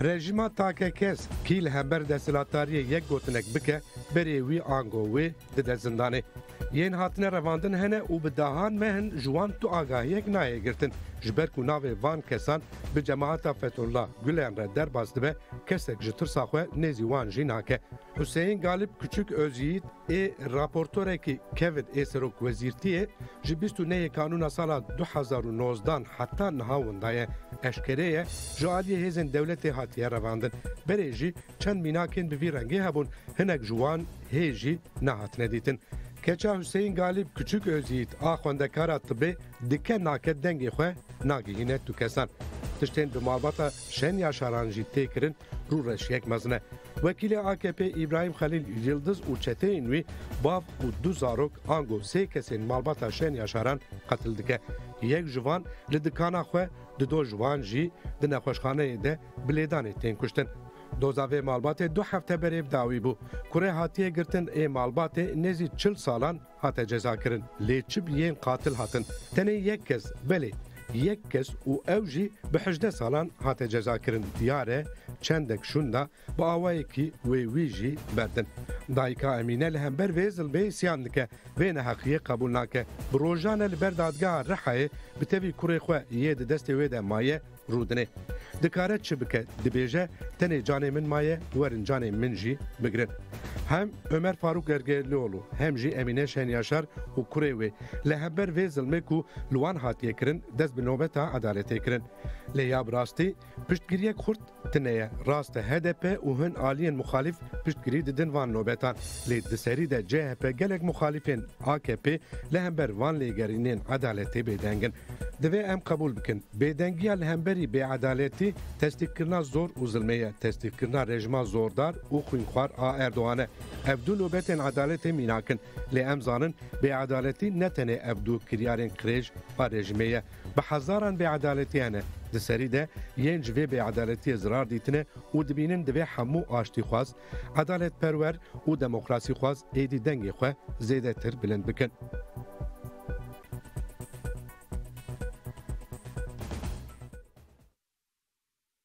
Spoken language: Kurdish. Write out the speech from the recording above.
Rejîma takekez kî li hember desthilatdariyê yek gotinek bike berê wî ango wê dide zindanê. Yên hatine revandin hene û bi dahan mehin ji wan tu agahiyek nayê girtin. Ji ber ku navê van kesan bi cemahata Fethullah Gulen re derbas dibe kesek ji tirsa xwe nêzî wan jî nake. Huseyîn Galip Kuçuk Ozyiğit ê raportorekî kevin ê serokwezîrtiyê ji bîst û neyê kanûna sala du hezar û nozdan heta niha winda ye. Eşkere ye ji aliyê hêzên dewletê hatiye revandin. Berê jî çend mînakên bi vî rengê hebûn, hinek ji wan hê jî nehatine dîtin. Keça Huseyîn Galip Kuçuk Ozyiğit a xwendekara tibê dike nake dengê xwe nagihîne tu kesan. Tiştên bi malbata Şen Yaşaran jî tê kirin rûreşiyek mezin e. Wekîlê AKP'ê Îbrahîm Xelîl Yildiz û çeteyên wî bav û du zarok ango sê kesên malbata Şen Yaşaran qetil dike. Yek ji van li dikana xwe di do ji wan jî di nexweşxaneyê de bi lêdanê tên kuştin. Doza vê malbatê du hefte berê bi dawî bû. Kurê hatiye girtin ê malbatê nêzî çil salan Hate cezakirin lê çi bi yên qatil hatin? Tenê yek kes, belê yek kes û ew jî bi hejdeh salan hate cezakirin diyar e çendek şûnda bi awayekî wê wî jî berdin. Dayika Emîne li hember vê zilmê îsyan dike, vê neheqiyê qebûl nake. Bi rojan e li ber dadgeha Rihayê bi tevî kurê xwe yê di destê wê de maye, Rûdine. Dikare çi bike? Dibêje, tenê canê min maye, werin canê min jî bigirin. Hem Omer Farûk Ergelioglu, hem jî Emîne Şenyaşar û kurê wê li hember vê zilmê ku li wan hatiye kirin dest bi nobeta edaletê kirin. Lê ya bi rastî piştgiriyek xurt tine ye. Rast e hdp û hin aliyên muxalîf Piştgirî didin van nobetan. Lê di serî de chp gelek muxalîfên akp li hember van lêgerînên edaletê bêdeng in. Divê em qebûl bikin bêdengiya li hemberî bêedaletî testîqkirina zor û zilmê ye, testîqkirina rejima zordar û xwînxwar a Erdogan e. Ev du nobetên edaletê mînak in. Lê em zanin bêedaletî ne tenê ev du kiryarên qirêj a rejimê ye. Bi hezaran bêedaletiyan e. Di serî de yên ji vê bêedaletiyê zirar dîtine û dibînin divê hemû aştîxwaz, edaletperwer û demokrasîxwaz êdî dengê xwe zêdetir bilind bikin.